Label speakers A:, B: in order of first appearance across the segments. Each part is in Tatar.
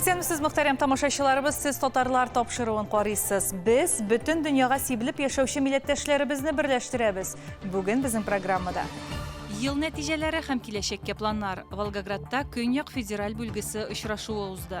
A: Исәнмесез, мөхтәрәм тамашачыларыбыз, сез татарлар тапшыруын карыйсыз. Без бөтен дөньяга сибелеп яшәүче милләттәшләребезне берләштерәбез. Бүген безнең программада Ел
B: нәтиҗәләре һәм киләчәккә планнар. Волгоградта Көньяк федераль бүлгесе очрашуы узды.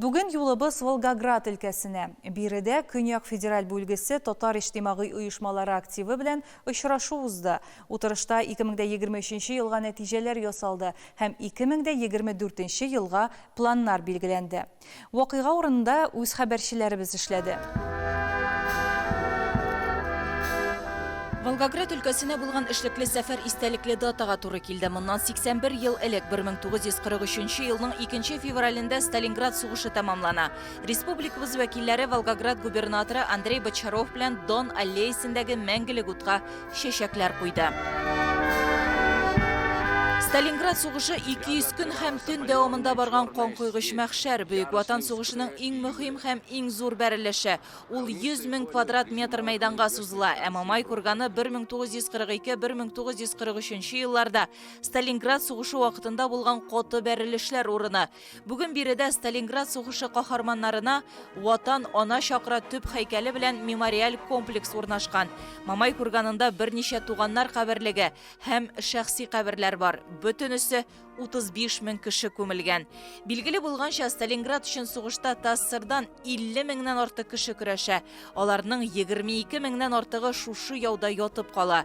A: Бүген юлыбыз Волгоград өлкәсенә. Биредә Көньяк федераль бүлгесе татар иҗтимагый оешмалары активы белән очрашу узды. Утырышта 2023 елга нәтиҗәләр ясалды һәм 2024 елга планнар билгеләнде. Вакыйга урынында үз хәбәрчеләребез эшләде.
B: Волгоград өлкәсенә булган эшлекле сәфәр истәлекле датага туры килде. Моннан 81 ел элек, 1943 елның 2 февралендә Сталинград сугышы тәмамлана. Республикабыз вәкилләре Волгоград губернаторы Андрей Бочаров белән Дон аллеясендәге мәңгелек утка чәчәкләр куйды. Сталинград сугышы 200 көн һәм төн дәвамында барган канкойгыч мәхшәр, Бөек Ватан сугышының иң мөһим һәм иң зур бәрелеше. Ул 100 мең квадрат метр мәйданга сузыла, ә Мамай курганы 1942-1943 елларда Сталинград сугышы вакытында булган каты бәрелешләр урыны. Бүген биредә Сталинград сугышы каһарманнарына Ватан, ана чакыра төп һәйкәле белән мемориаль комплекс урнашкан. Мамай курганында берничә туганнар каберлеге һәм шәхси каберләр бар. Бөтенесе 35 мең кеше күмелгән. Билгеле булганча, Сталинград өчен сугышта ТАССРдан 50 меңнән артык кеше көрәшә. Аларның 22 меңнән артыгы шушы яуда ятып кала.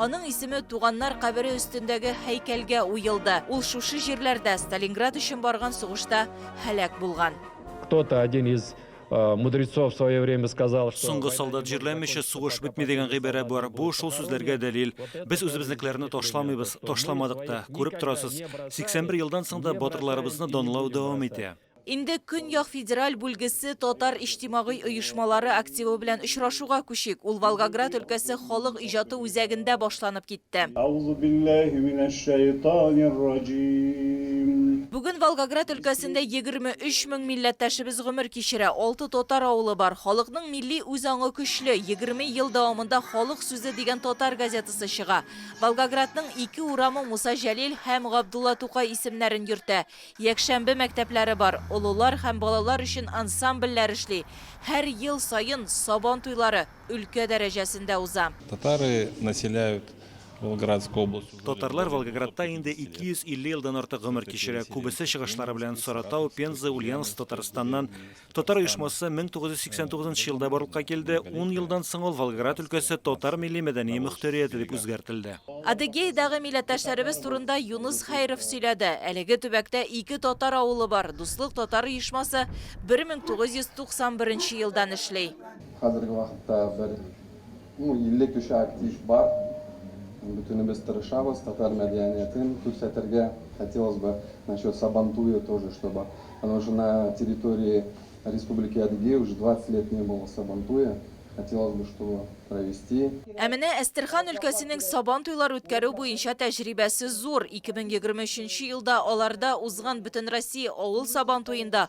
B: Аның исеме туганнар кабере өстендәге һәйкәлгә уелды. Ул шушы җирләрдә Сталинград өчен барган сугышта һәлак булган. Кто-то один
C: из э, мудрецов в свое время сказал, что... Соңгы солдат җирләмичә
D: сугыш бетми дигән гыйбарә бар. Бу шул сүзләргә дәлил. Без үзебезнекеләрне ташламыйбыз, ташламадык та. Күреп торасыз, 81 елдан соң да батырларыбызны данлау дәвам итә. Инде Көньяк
B: федераль бүлгесе татар иҗтимагый оешмалары активы белән очрашуга күчик. Ул Волгоград өлкәсе халык иҗаты үзәгендә башланып китте. Әузубилләһи минәшшәйтанирраҗиим. Бүген Волгоград өлкәсендә егерме өч мең милләттәшебез гомер кичерә, алты татар авылы бар. Халыкның милли үз аңы көчле, егерме ел дәвамында Халык сүзе дигән татар газетасы чыга. Волгоградның ике урамы Муса Җәлил һәм Габдулла Тукай исемнәрен йөртә. Якшәмбе мәктәпләре бар, олылар һәм балалар өчен ансамбльләр эшли. Һәр ел саен Сабан туйлары өлкә дәрәҗәсендә уза. Татары
E: населяют Волгоградскую область. Татарлар Волгоградта
D: инде 250 елдан артык гомер кичерә, күбесе чыгышлары белән Саратау, Пенза, Ульяновск, Татарстаннан Татар оешмасы 1989 елда барлыкка килде, 10 елдан соң ул Волгоград өлкәсе татар милли мәдәни мөхтәрияте дип үзгәртелде. Адыгейдагы
B: милләттәшләребез турында Юныс Хәйров сөйләде. Әлеге төбәктә ике татар авылы бар, Дуслык татар оешмасы 1991 елдан эшли. Хәзерге вакытта
F: бер Ну 50 кеше актив бар. Бөтенебез тырышабыз, татар мәдәниятен күрсәтергә. Хотелось бы насчет Сабантуя тоже чтобы, потому что на территории Республики Адыгея уже 20 лет не было Сабантуя, хотелось бы чтобы провести. Ә менә Әстерхан
B: өлкәсенең Сабан туйлар үткәрү буенча тәҗрибәсе зур, 2023 нче елда аларда узган Бөтенроссия авыл Сабантуенда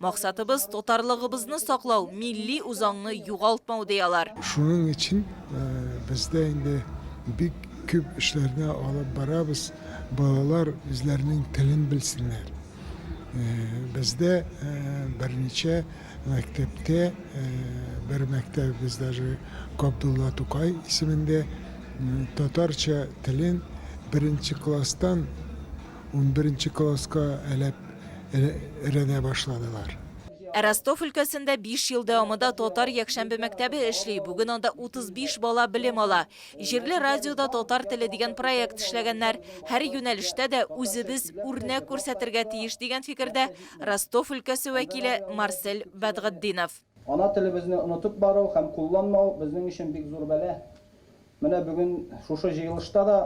B: Максатыбыз, татарлыгыбызны саклау, милли үзаңны югалтмау, ди алар. Шуның өчен
G: бездә инде бик күп эшләрне алып барабыз, балалар үзләренең телен белсеннәр. Бездә берничә мәктәптә, бер мәктәбебез даже Габдулла Тукай исемендә татарча телен беренче класстан Унберенче класска әләп рәнә башладылар. Ә Ростов
B: өлкәсендә биш ел дәвамында татар якшәмбе мәктәбе эшли, бүген анда 35 бала белем ала. Җирле радиода татар теле дигән проект эшләгәннәр. Һәр юнәлештә дә үзебез үрнәк күрсәтергә тиеш, дигән фикердә Ростов өлкәсе вәкиле Марсель Бәдгатдинов. Ана телебезне
F: онытып бару һәм кулланмау безнең өчен бик зур бәла. Менә бүген шушы җыелышта да,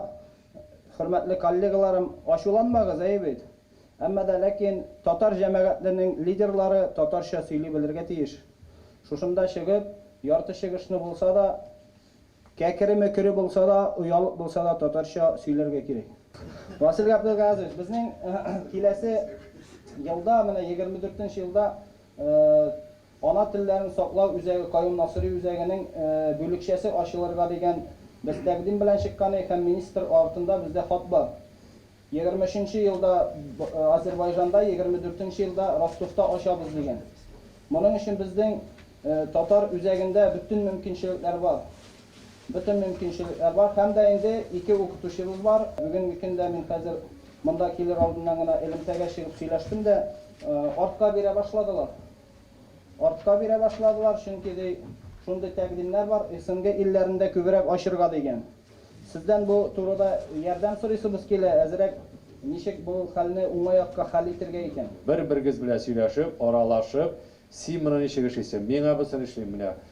F: хөрмәтле коллегаларым, ачуланмагыз, әйе бит? Әмма да ләкин татар җәмәгатьленең лидерлары татарча сөйли белергә тиеш. Шушында чыгып, ярты чыгышны булса да, кәкере-мөкере булса да, оялып булса да татарча сөйләргә кирәк. Васил Габделгазович, безнең киләсе елда, менә егерме дүртенче елда Ана телләрен саклау үзәге Каюм Насыйри үзәгенең бүлекчәсе ачылырга дигән без тәкъдим белән чыкканы һәм министр артында бездә хат бар. Егерме өченче елда Азербайжанда, егерме дүртенче елда Ростовта ачабыз дигән. Моның өчен безнең татар үзәгендә бөтен мөмкинчелекләр бар. Бөтен мөмкинчелекләр бар һәм дә инде ике укытучыбыз бар. Бүгенге көндә мин хәзер монда килер алдыннан гына элемтәгә чыгып сөйләштем дә. Артка бирә башладылар. Артка бирә башладылар, чөнки, ди, шундый тәкъдимнәр бар, СНГ илләрендә күбрәк ачырга, дигән. Сездән бу турыда ярдәм сорыйсыбыз килә, әзрәк ничек бу хәлне уңай якка хәл итергә икән? Бер-берегез белән
C: сөйләшеп, аралашып, син моны ничек эшлисең, мин абысын эшлим, менә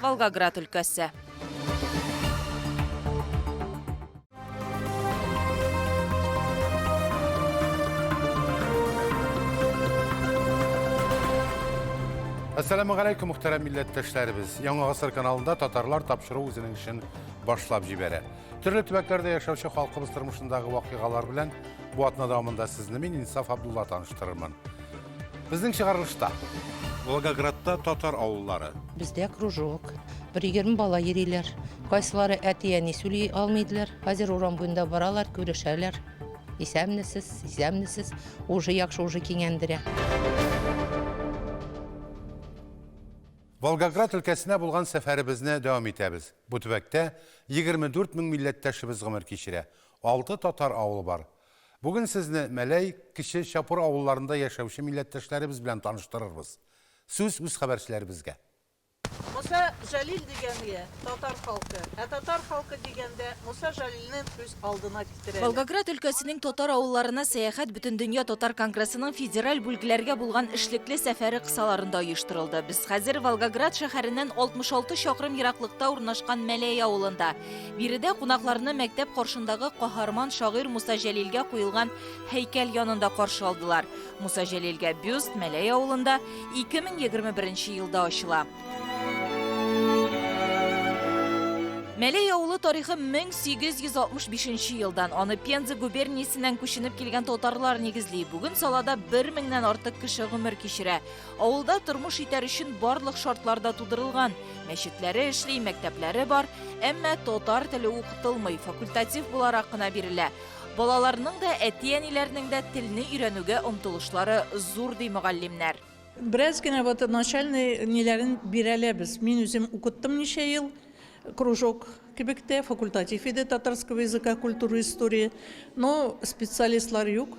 B: Волгоград өлкәсе.
H: Әссәләму гәләйкүм, мөхтәрәм милләттәшләребез. Яңа гасыр каналында татарлар тапшыру үзенең эшен башлап җибәрә. Төрле төбәкләрдә яшәүче халкыбыз тормышындагы вакыйгалар белән бу атна дәвамында сезне мин Инсаф Абдулла таныштырырмын. Безнең чыгарылышта. Волгоградта татар авыллары. Бездә кружок.
I: Бер егерме бала йөриләр. Кайсылары әти-әни сөйли алмый иделәр. Хәзер урам буенда баралар, күрешәләр. Исәнмесез, исәнмесез. Уже яхшы, уже киңәндерә.
H: Волгоград өлкәсенә булган сәфәребезне дәвам итәбез. Бу төбәктә егерме дүрт мең милләттәшебез гомер кичерә. Алты татар авылы бар. Бүген сезне Мәләй, Кече Чапур авылларында яшәүче милләттәшләребез белән таныштырырбыз. Сүз үз хәбәрчеләребезгә. Муса
J: Җәлил дигәнге, татар халкы. Ә татар халкы дигәндә, Муса Җәлилне күз алдына китерәләр. Волгоград өлкәсенең
B: татар авылларына сәяхәт Бөтендөнья татар конгрессының федераль бүлгләргә булган эшлекле сәфәре кысаларында оештырылды. Без хәзер Волгоград шәһәреннән 66 чакрым ераклыкта урнашкан Мәләй авылында. Биредә кунакларны мәктәп каршындагы каһарман шагыйрь Муса Җәлилгә куелган һәйкәл янында каршы алдылар. Муса Җәлилгә бюст Мәләй авылында 2021 елда ачыла. Мәләй авылы тарихы 1865 елдан, аны Пенза губерниясеннән күченеп килгән татарлар нигезли. Бүген салада бер меңнән артык кеше гомер кичерә. Авылда тормыш итәр өчен барлык шартлар да тудырылган. Мәчетләре эшли, мәктәпләре бар, әмма татар теле укытылмый, факультатив буларак кына бирелә. Балаларның да, әти-әниләрнең дә телне өйрәнүгә омтылышлары зур, ди мөгаллимнәр. Бераз генә
J: вот начальный ниләрен бирәләр без. Мин үзем укыттым ничә ел, кружок кебек тә, факультатив иде татарского языка, культуры, истории. Но специалистлар юк.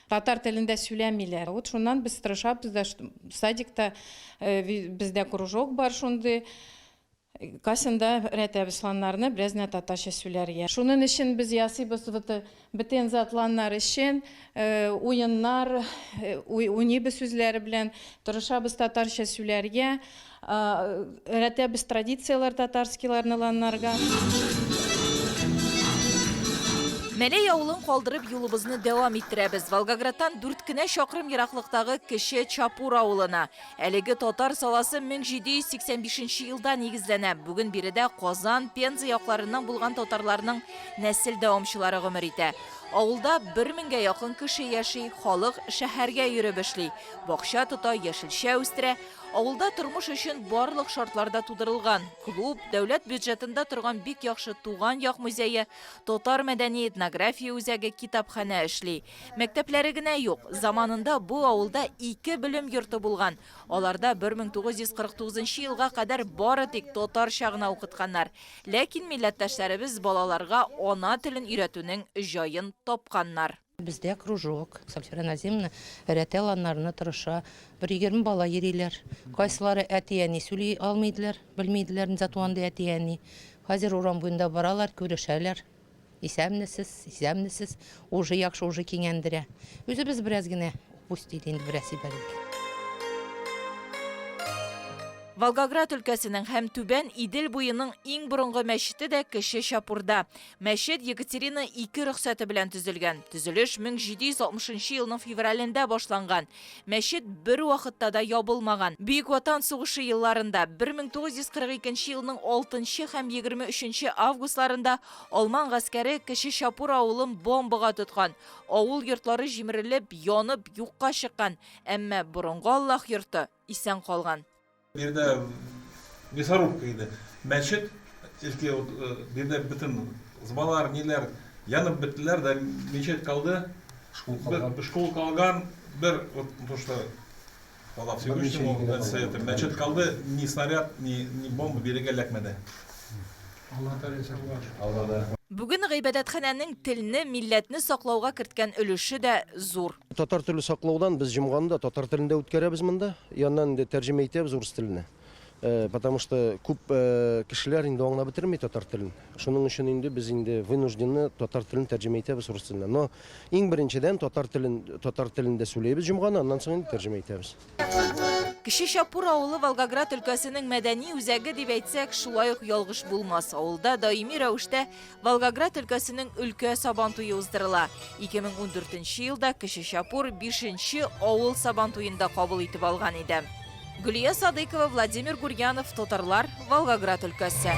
I: Татар телендә сүләмиләр. Вот шуннан без тырышабыз да, садикта бездә кружок бар шундый. Касында рәтәбез сланнарны, бераз генә татарча сүләргә. Шунын өчен без ясыйбыз вот бетен затланнар өчен уеннар, уйныйбыз үзләре белән, тырышабыз татарча сүләргә. Рәтә без традицияләр татарскийларны ланнарга.
B: Мәләй авылын калдырып юлыбызны дәвам иттерәбез. Волгоградтан дүрт кенә чакрым ераклыктагы кече Чапур авылына. Әлеге татар саласы 1785 елда нигезләнә. Бүген биредә Казан, Пенза якларыннан булган татарларның нәсел дәвамчылары гомер итә. Авылда бер меңгә якын кеше яши, халык шәһәргә йөреп эшли, бакча тота, яшелчә үстерә. Авылда тормыш өчен барлык шартлар да тудырылган. Клуб, дәүләт бюджетында торган бик яхшы Туган як музее, татар мәдәни-этнография үзәге, китапханә эшли. Мәктәпләре генә юк. Заманында бу авылда ике белем йорты булган. Аларда 1949 елга кадәр бары тик татарча гына укытканнар. Ләкин милләттәшләребез балаларга ана телен өйрәтүнең җаен тапканнар. Бездә кружок,
I: Сальфира Назимовна рәтәл анарны тырыша. Бер егерме бала йөриләр. Кайсылары әти-әни сөйли алмыйдылар, белмиделәр, ни зат андый әти-әни. Хәзер урам буенда баралар, күрешәләр. Исәнмесез, исәнмесез. Уже яхшы, уже киңәндерә. Үзебез бераз генә пусть диде инде бераз сибәлик.
B: Волгоград өлкәсенең һәм Түбән Идел буеның иң борынгы мәчете дә Кече Чапурда. Мәчет Екатерина II рөхсәте белән төзелгән. Төзелеш 1760 елның февралендә башланган. Мәчет бер вакытта да ябылмаган. Бөек Ватан сугышы елларында, 1942 елның 6 һәм 23 августларында алман гаскәре Кече Чапур авылын бомбага тоткан. Авыл йортлары җимерелеп, янып, юкка чыккан, әмма борынгы Аллаһ йорты исән калган. Биредә
E: мясорубка иде. Мәчет, элекке вот биредә бөтен зыбалар, ниләр янып беттеләр дә, мечеть калды. Шкул калган. Бер шкул калган, бер вот то, что Аллах Всевышнему, мәчет калды, ни снаряд, ни бомба бирегә эләкмәде. Аллада ризык
B: бар. Аллада рәхмәт. Бүген гыйбадәтханәнең телне, милләтне саклауга керткән өлеше дә зур. Татар теле саклаудан
K: без җомганы да татар телендә үткәрәбез монда. Яннан инде тәрҗемә итәбез урыс теленә. Потому что күп кешеләр инде аңлап бетерми татар телен. Шуның өчен инде без инде вынуждены татар телен тәрҗемә итәбез урыс теленә. Но иң беренчедән татар телен, татар телендә сүләйбез җомганы, аннан соң инде тәрҗемә итәбез. Кече
B: Чапур авылы Волгоград өлкәсенең мәдәни үзәге дип әйтсәк, шулай ук ялгыш булмас. Авылда даими рәвештә Волгоград өлкәсенең өлкә сабан туе уздырыла. 2014 елда Кече Чапур 5 авыл сабан туен да кабул итеп алган иде. Гөлия Садыкова, Владимир Гурьянов, Татарлар, Волгоград өлкәсе.